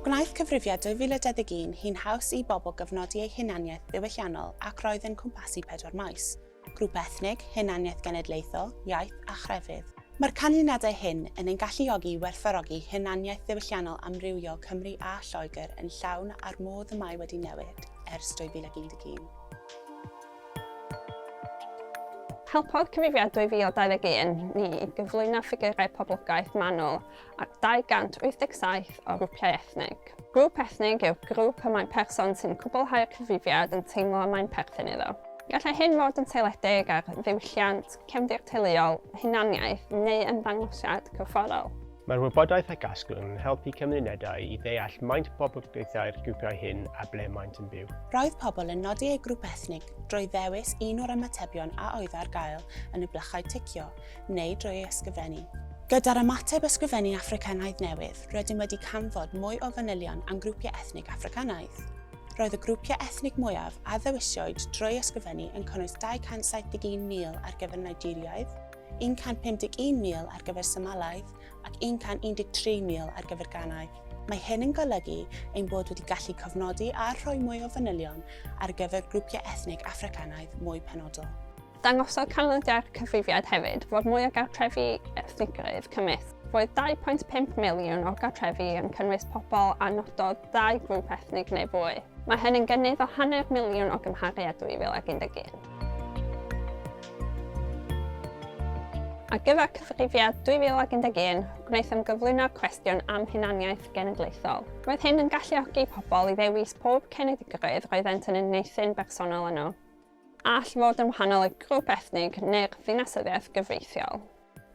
Gwnaeth Cyfrifiad 2021 hi'n haws i bobl gyfnodi eu hunaniaeth ddiwylliannol ac roedd yn cwmpasu pedwar maes, grŵp ethnig, hunaniaeth genedlaethol, iaith a chrefydd. Mae'r canlyniadau hyn yn ein galluogi i werthfawrogi hunaniaeth ddiwylliannol amrywiol Cymru a Lloegr yn llawn a'r modd y mae wedi newid ers 2011. Helpodd Cyfrifiad 2021 ni i gyflwyno ffigyrau poblogaeth manwl ar 287 o grwpiau ethnig. Grŵp ethnig yw'r grŵp y mae person sy'n cwblhau'r cyfrifiad yn teimlo y mae'n perthyn iddo. Gallai hyn fod yn seiliedig ar ddiwylliant, cefndir teuluol, hunaniaeth neu ymddangosiad corfforol. Mae'r wybodaeth a gasglwn yn helpu cymunedau i ddeall maint poblogaethau'r grwpiau hyn a ble maent yn byw. Roedd pobl yn nodi eu grŵp ethnig drwy ddewis un o'r ymatebion a oedd ar gael yn y blychau ticio, neu drwy ei ysgrifennu. Gyda'r ymateb Ysgrifennu Affricanaidd newydd, rydym wedi canfod mwy o fanylion am grwpiau ethnig Affricanaidd. Roedd y grwpiau ethnig mwyaf a ddewisiwyd drwy ysgrifennu yn cynnwys 271,000 ar gyfer Nigeriaidd, 151,000 ar gyfer symalaeth ac 113,000 ar gyfer gannoedd. Mae hyn yn golygu ein bod wedi gallu cofnodi a rhoi mwy o fanylion ar gyfer grwpiau ethnig Affricanaidd mwy penodol. Dangosodd canlyniadau'r cyfrifiad hefyd fod mwy o gartrefi ethnigrwydd cymysg. Roedd 2.5 miliwn o'r gartrefi yn cynnwys pobl a nododd ddau grŵp ethnig neu fwy. Mae hyn yn gynnydd o hanner miliwn o gymharu â 2011. Ar gyfer cyfrifiad 2011, gwnaethom gyflwyno'r cwestiwn am hunaniaeth genedlaethol. Roedd hyn yn galluogi pobl i ddewis pob cenedligrwydd roeddent yn unieithu'n bersonol yno. All fod yn wahanol i'r grŵp ethnig neu'r ddinasyddiaeth gyfreithiol.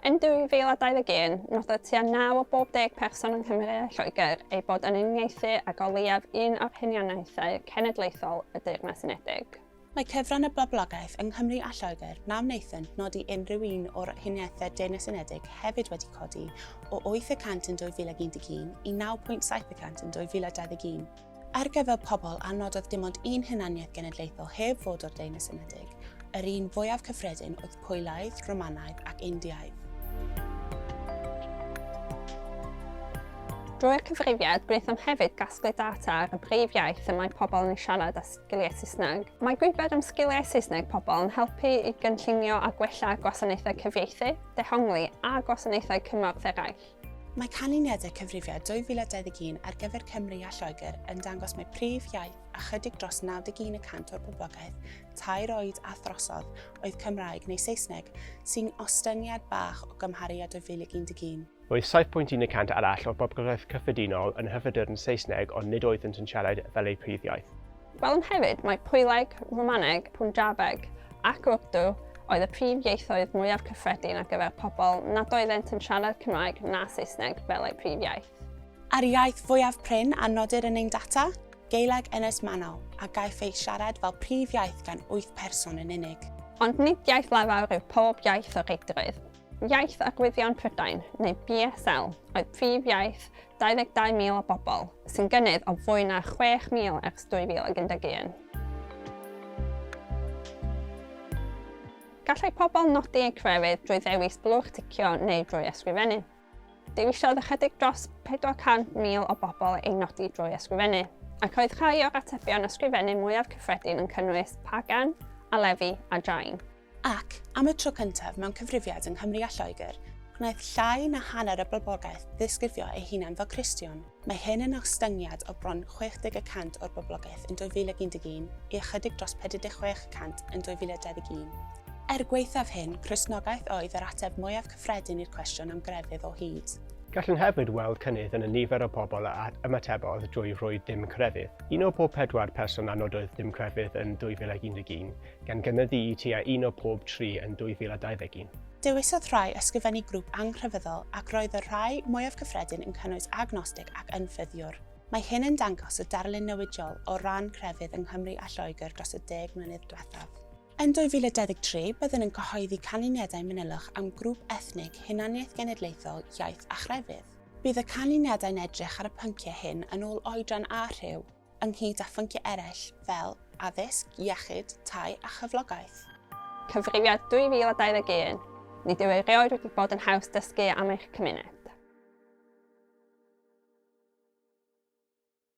Yn 2021, nododd tua 9 o bob deg person yng Nghymru a Lloegr eu bod yn uniaethu ag o leiaf un o'r hunianiaethau cenedlaethol y Deyrnas Unedig. Mae cyfran y boblogaeth yng Nghymru a Lloegr na wnaethant nodi unrhyw un o'r huniaethau Deyrnas Unedig hefyd wedi codi o 8 y cant yn 2011 i 9.7 y cant yn 2021. Ar gyfer pobl a nododd dim ond un hunaniaeth genedlaethol heb fod o'r Deyrnas Unedig, yr un fwyaf cyffredin oedd Pwylaidd, Romanaidd ac Indiaidd. Drwy'r cyfrifiad, gwnaethom hefyd gasglu data ar y brif iaith y mae pobl yn ei siarad a Sgiliau Saesneg. Mae gwybod am sgiliau Saesneg pobl yn helpu i gynllunio a gwella gwasanaethau cyfieithu, dehongli a gwasanaethau cymorth eraill. Mae canlyniadau cyfrifiad 2021 ar gyfer Cymru a Lloegr yn dangos mai prif iaith ychydig dros 91 y cant o'r boblogaeth tair oed a throsodd oedd Cymraeg neu Saesneg, sy'n ostyngiad bach o gymharu â 2011. Roedd 7.1 y cant arall o'r boblogaeth cyffredinol yn hyfrydyrn Saesneg ond nid oeddynt yn siarad fel eu prif iaith. Gwelwn hefyd mai Pwyleg, Rwmaneg, Punjabeg ac Urdu oedd y prif ieithoedd mwyaf cyffredin ar gyfer pobl nad oeddent yn siarad Cymraeg na Saesneg fel eu prif iaith. A'r iaith fwyaf prin a nodir yn ein data? Gaeleg Ynys Manaw, a gaiff ei siarad fel prif iaith gan wyth person yn unig. Ond nid iaith lafar yw pob iaith o reidrwydd. Iaith a Gwyddio'n Prydain, neu BSL, oedd prif iaith 22,000 o bobl, sy'n gynnydd o fwy na 6,000 ers 2011. Gallai pobl nodi eu crefydd drwy ddewis blwch ticio neu drwy ysgrifennu. Dewisiodd ychydig dros 400,000 o bobl ei nodi drwy ysgrifennu, ac oedd rhai o'r atebion ysgrifennu mwyaf cyffredin yn cynnwys pagan, alefi a jain. Ac, am y tro cyntaf mewn cyfrifiad yng Nghymru a Lloegr, gwnaeth llai na hanner y boblogaeth ddisgrifio eu hunain fel Cristion. Mae hyn yn ostyngiad o bron 60 y cant o'r boblogaeth yn 2011 i ychydig dros 46 y cant yn 2021. Er gwaethaf hyn, Cristnogaeth oedd yr ateb mwyaf cyffredin i'r cwestiwn am grefydd o hyd. Gallwn hefyd weld cynnydd yn y nifer o bobl a ymatebodd drwy roi dim crefydd. Un o bob pedwar person a nododd dim crefydd yn 2011, gan gynyddu i tua un o pob tri yn 2021. Dewisodd rhai ysgrifennu grŵp angrefyddol ac roedd y rhai mwyaf cyffredin yn cynnwys agnostig ac ynffyddiwr. Mae hyn yn dangos y darlun newidiol o ran crefydd yng Nghymru a Lloegr dros y deg mlynedd diwethaf. Yn 2023, byddwn yn cyhoeddi canlyniadau manylach am grŵp ethnig, hunaniaeth genedlaethol, iaith a chrefydd. Bydd y canlyniadau'n edrych ar y pynciau hyn yn ôl oedran a rhyw. ynghyd â phynciau eraill fel addysg, iechyd, tai a chyflogaeth. Cyfrifiad 2021, Nid yw erioed wedi bod yn haws dysgu am eich cymuned.